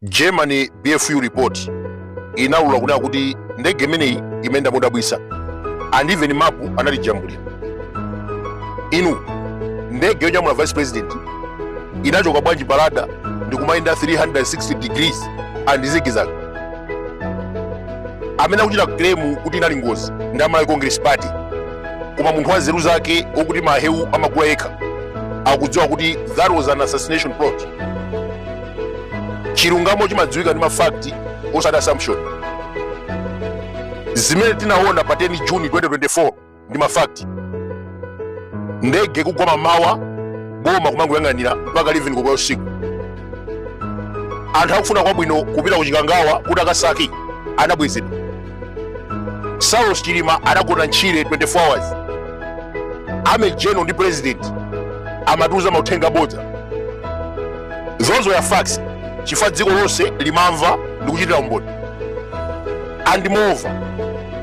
germany bfu report inaulula kunena kuti ndege imeneyi imayenda modabwitsa and even mapu anatijambulira inu ndege yonyamula vice president inachoka bwanji pa radar ndikumayenda 360 degrees and zigizag amene akuchita claim kuti inali ngozi ndi a malawi congress party koma munthu wa nzeru zake wokuti mahewu amagula yekha akudziwa kuti that was an assassination plot chilungamo chimadziwika ndi mafakti osati assumption zimene tinaona pa 10 juni 2024 ndi mafakti ndege kugwa mamawa boma kumangoyang'anira mpaka 11 koloko usiku anthu akufuna kwabwino kupita ku chikangawa kuti akasake anabwezedwa saulos chilima adagona m'tchire 24 hours army general ndi president amatiuza mauthenga abodza those were facts chifukwa dziko lonse limamva ndi kuchitira umboni and moreover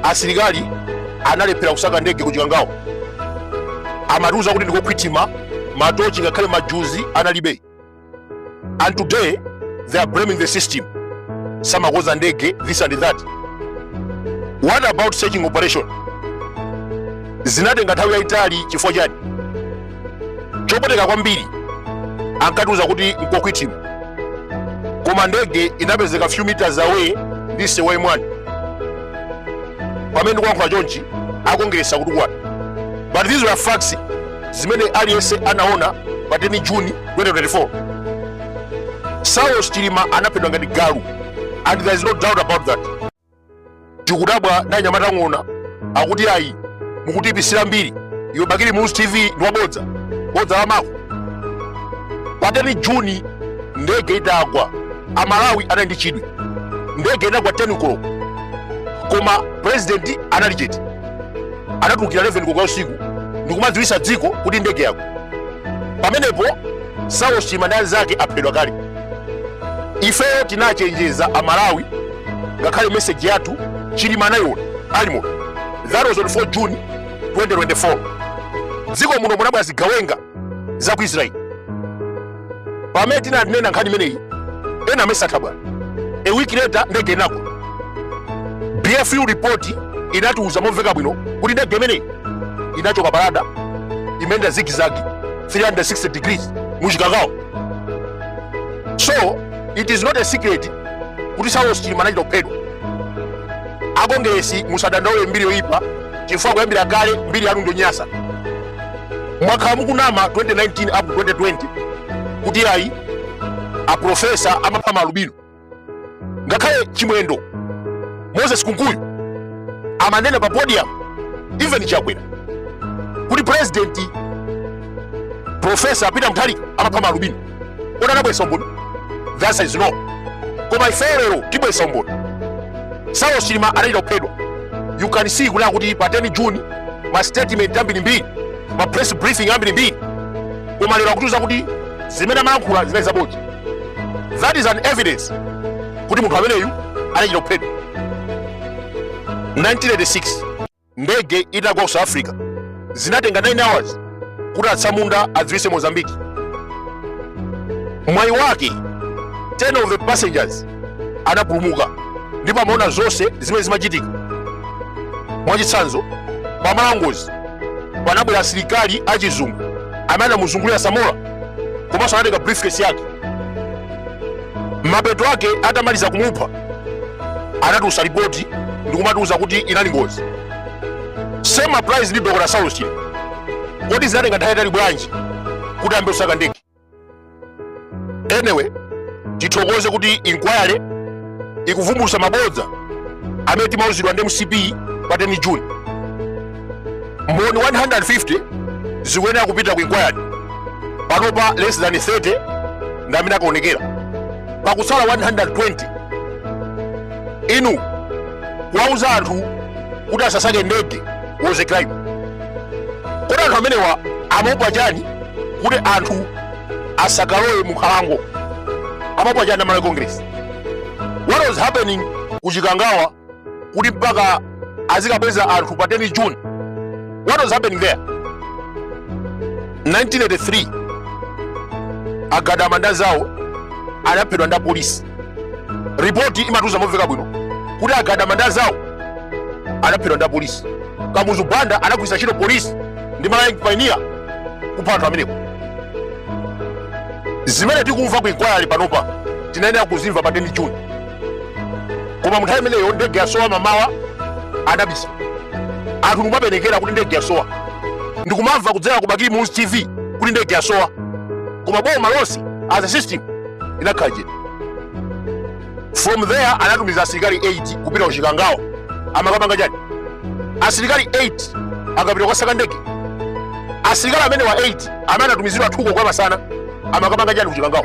asilikali analephera kusaka ndege ku chikangawa amatiuza kuti ndi kokwitima matochi ngakhale majuzi analibe and today they are blaming the system samakoza ndege this and that what about searching operation zinatenga nthawi yayitali chifukwa chani chopweteka kwambiri ankatiuza kuti nkokwitima koma ndege inapezeka few meters away ndi msewu wa m1 pamene ndikulankhula chonchi akongeresa kutukwana but these were facts zimene aliyense anaona pa 10 juni 2024 saulos chilima anaphedwa ngati galu and there is no doubt about that tikudabwa ndi anyamata a ng'ona akuti ayi mukutiipitsira mbiri iwe bakili muluzi tv ndi wabodza bodza la mako pa 10 juni ndege itagwa amalawi anali ndi chidwi ndege inagwa 10 koloko koma president anali chete anatulukira 11 koloko usiku ndikumadziwitsa dziko kuti ndege yagwa pamenepo saulos chilima ndi anzake aphedwa kale ifeyo tinachenjeza amalawi ngakhale meseji yathu chilima anayiona alimo that was on 4 june 2024 dziko muno munabwera zigawenga za ku israeli pamene tinanena nkhani imeneyi ena amayesa nthabwala a week later ndege inagwa bfu report inatiuza momveka bwino kuti ndege imeneyi inachoka pa radar imayenda zigizagi 360 degrees muchikangawa so it is not a secret kuti saulos chilima anachita kuphedwa akongeresi musadandaule mbiri yoyipa chifukwa kuyambira kale mbiri yanu ndonyansa mwakhala mukunama 2019 up to 2020 kuti ayi aprofesa amapha maalubino ngakhale chimwendo moses kunkuyu amanena pa podium even chakwera kuti president profesa peter mutharika amapha maalubino kodi anabwesa umboni the answer is no koma ifeyo lero tibwesa umboni saulos chilima anachita kuphedwa you can see kunena kuti pa 10 june ma statement ambirimbiri ma press briefing ambirimbiri koma lero akutiuza kuti zimene amalankhula zinali zabodza that is an evidence kuti munthu ameneyu anachita kuphedwa 1986 ndege itagwa ku south africa zinatenga 9 hours kuti atsamunda adziwise mozambiki mwayi wake 10 of the passengers anapulumuka ndipo amaona zonse zimene zimachitika mwachitsanzo pamalo a ngozi panabwera asilikali achizungu amene anamuzungulira samora komanso anatenga briefcase yake mapeto ake atamaliza kumupha anatulutsa lipoti ndikumatiuza kuti inali ngozi same applies ndi dr saulos chilima kodi zinatenga nthawi yayitali bwanji kuti ayambe kusaka ndege anyway tithokoze kuti inquiry ikuvumbulutsa mabodza amene timauzidwa ndi mcp pa 10 june mboni 150 zikuyenera kupita ku inquiry panopa less than 30 ndi amene akaonekera pakutsala 120 inu kuwauza anthu kuti asasake ndege was a crime kodi anthu amenewa amaopa chani kuti anthu asakalowe mu nkhalango amaopa chani amalawi congress what was happening ku chikangawa kuti mpaka azikabweza anthu pa 10 june what was happening there 1983 agadama nda zawo anaphedwa nda polisi ripoti imatiuza momveka bwino kuti agadama nda zawo anaphedwa nda polisi kamuzu banda anagwiritsa ntchito polisi ndi malawi young pioneer kupha anthu amenewo zimene tikumva ku inquiry panopa tinayenera kuzimva pa 10 june koma munthawi imeneyo ndege yasowa mmamawa adabisa anthu ndikumapenekera kuti ndege yasowa ndikumamva kudzera ku bakili muluzi tv kuti ndege yasowa koma boma lonse as a system inakhala chete from there anatumiza asilikali 8 kupita kuchikangawa amakapanga chani asilikali 8 akapita kukasaka ndege asilikali amenewa 8 amene anatumizidwa 2 koloko ya masana amakapanga chani kuchikangawa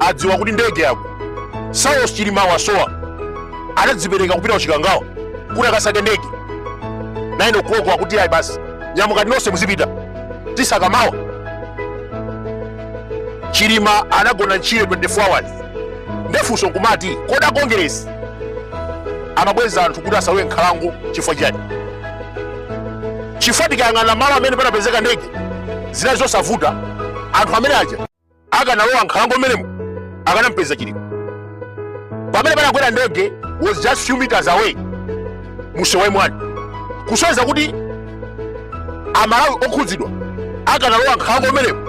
adziwa kuti ndege yagwa saulos chilima wasowa anadzipereka kupita kuchikangawa kuti akasake ndege 9 o'clock akuti ayi basi nyamukani nonse muzipita tisaka mawa chilima anagona ntchire 24 hours ndefunso nkumati kodi akongeresi amabweza anthu kuti asalowe nkhalango chifukwa chani chifukwa tikayang'ana malo amene panapezeka ndege zinali zosavuta anthu amene aja akanalowa nkhalango mmenemo akanampeza chilima pamene panagwera ndege was just few meters away mushewe mwani kusonyeza kuti amalawi okhudzidwa akanalowa nkhalango mmenemo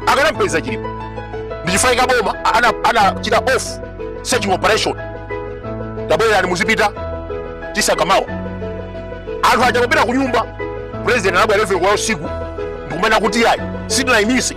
akanampeza chilima ndichifukwa chake boma anachita off searching operation tabwererani muzipita tisakamawa anthu aja kupita ku nyumba president anabwera 11 koloko ya usiku ndikumanena kuti ayi sitinaimise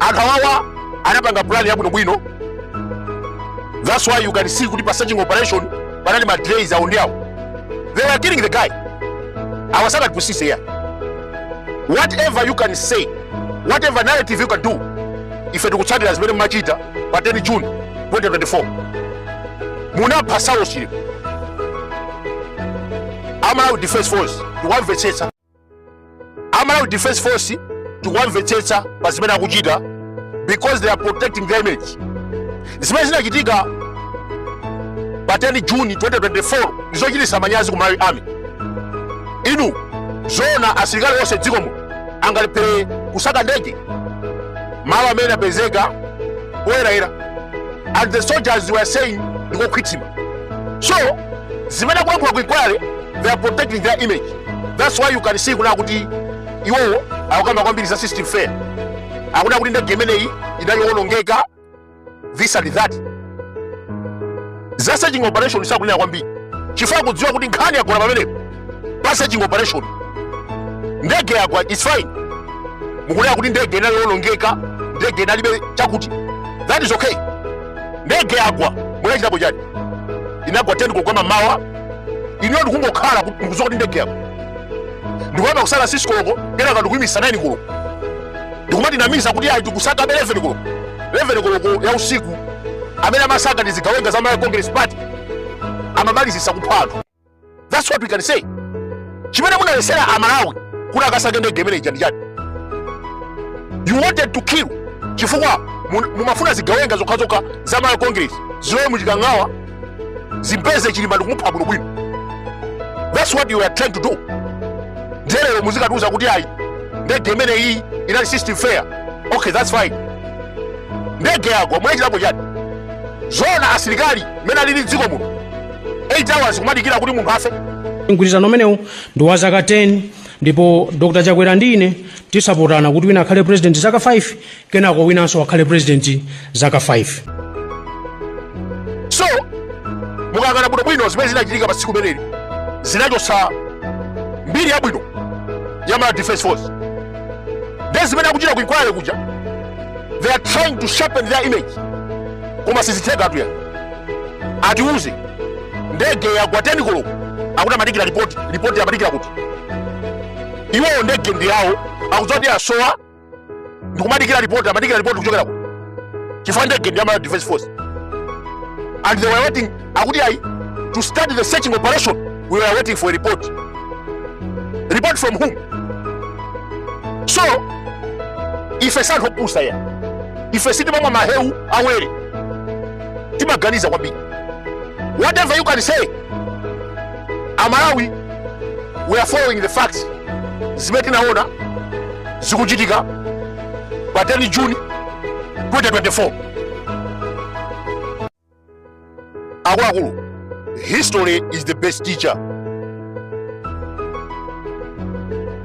anthu awawa anapanga plan yabwinobwino that's why you can see kuti pa searching operation panali ma delays awo ndi awo they were killing the guy awa asamatipusitse ya whatever you can say whatever narrative you can do ife tikutsatira zimene mumachita pa 10 june 2024 munapha saulos chilima amalawi defense force tikuwamvetsetsa amalawi defense force tikuwamvetsetsa pa zimene akuchita because they are protecting their image zimene zinachitika pa 10 juni 2024 ndizochititsa manyazi ku malawi army inu zoona asilikali onse dziko muno angalephere kusaka ndege malo amene apezeka poyerayera and the soldiers were saying ndikokhwithima so zimene akulankhula ku inquiry they are protecting their image that's why you can see kunena kuti iwowo akukamba kwambiri za system failure akunena kuti ndege imeneyi inali yowonongeka this and that za searching operation sakunena kwambiri chifukwa akudziwa kuti nkhani yagona pamenepo pa searching operation ndege yagwa its fine mukunena kuti ndege inali yowonongeka ndege inalibe chakuti that is okay ndege yagwa munachitapo chani inagwa 10 koloko mamawa inuyo ndikungokhala mukudziwa kuti ndege yagwa ndikuyamba kusaka 6 koloko kenaka ndikuyimisa 9 koloko ndikumatinamiza kuti ayi tikusakabe 11 koloko 11 koloko ya usiku amene amasaka ndi zigawenga za Malawi Congress Party amamalizisa kupha anthu that's what we can say chimene munaletsera amalawi kuti akasake ndege imene ija ndi chani you wanted to kill chifukwa mun- mumafuna zigawenga zokhazokha za Malawi Congress zilowe muchikangawa zimpeze chilima ndikumupha bwino bwino that's what you are trying to do ndelero muzikatiuza kuti ayi ndege imene iyi inali system failure okay that's fine ndege yagwa munachitapo chiyani zona asilikali mmene alili mdziko muno 8 hours kumadikira kuti munthu afe mgwirizano umenewu ndi wa zaka 10 ndipo dr chakwera ndi ine tidzapatsana kuti wina akhale president zaka 5 kenako winanso akhale president zaka 5 so mukayang'ana bwinobwino zimene zinachitika pa tsiku limeneli zinachotsa mbiri yabwino ya malawi defense force nde zimene akuchita kuinquiry kuja they are trying to sharpen their image koma sizitheka atuya atiuze ndege yagwa 10 koloko akuti amadikira ripoti ripoti amadikira kuti iwowo ndege ndi yawo akudziwa kuti yasowa ndikumadikira report amadikira report kuchokera kuti chifukwa ndege ndi ya malawi defense force and they were waiting akuti ayi to start the searching operation we were waiting for a report report from whom so ife si anthu opusa ayi ife sitimamwa mahewu awere timaganiza kwambiri whatever you can say amalawi we are following the facts zimene tinaona zikuchitika pa 10 june 2024 akuluakulu history is the best teacher